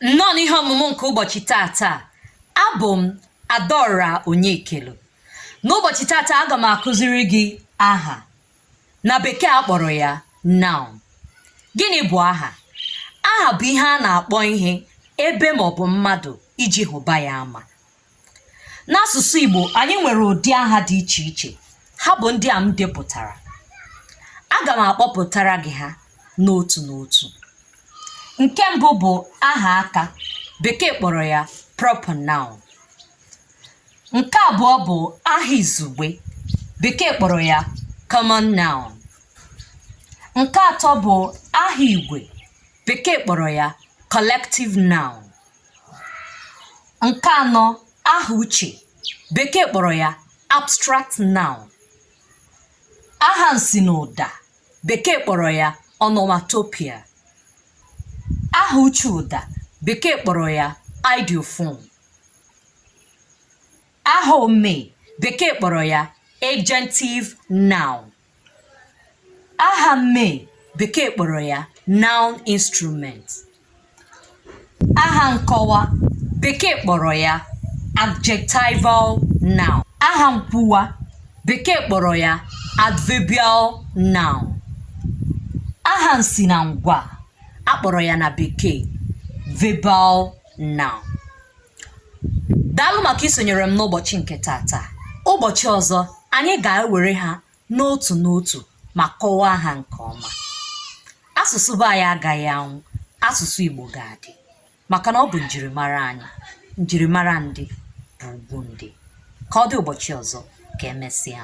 Nnọọ n'ihe ọmụmụ nke ụbọchị taata, abụ m Adaọra Onyekelu. N'ụbọchị taata, aga m akụziri gị aha. Na bekee a kpọrọ ya noun. Gịnị bụ aha? Aha bụ ihe a na-akpọ ihe, ebe maọbụ mmadụ iji hụba ya ama. n'asụsụ Igbo anyị nwere ụdị aha dị iche iche ha bụ ndị a m depụtara aga m akpọpụtara gị ha n'otu n'otu nke mbụ bụ aha aka bekee kpọrọ ya proper noun nke abụọ bụ aha izugbe bekee kpọrọ ya common noun nke atọ bụ aha igwe Bekee kpọrọ ya collective noun. Nke anọ aha uche Bekee kpọrọ ya abstract noun. Aha nsi n'ụda Bekee kpọrọ ya onomatopoeia. Aha uche ụda Bekee kpọrọ ya ideophone. Aha omee Bekee kpọrọ ya agentive noun. aha mmee bekee kpọrọ ya noun instrument aha nkọwa bekee kpọrọ ya adjectival noun aha nkwuwa bekee kpọrọ ya adverbial noun aha nsi na ngwaa a kpọrọ ya na bekee verbal noun daalụ maka isonyere m n'ụbọchị nke taata ụbọchị ọzọ anyị ga-ewere ha n'otu n'otu ma kọwaa ha nke ọma asụsụ be anyị agaghị anwụ asụsụ igbo ga-adị maka na ọ bụ njirimara anyị njirimara ndị bụ ugwu ndị ka ọ dị ụbọchị ọzọ ka e mesịa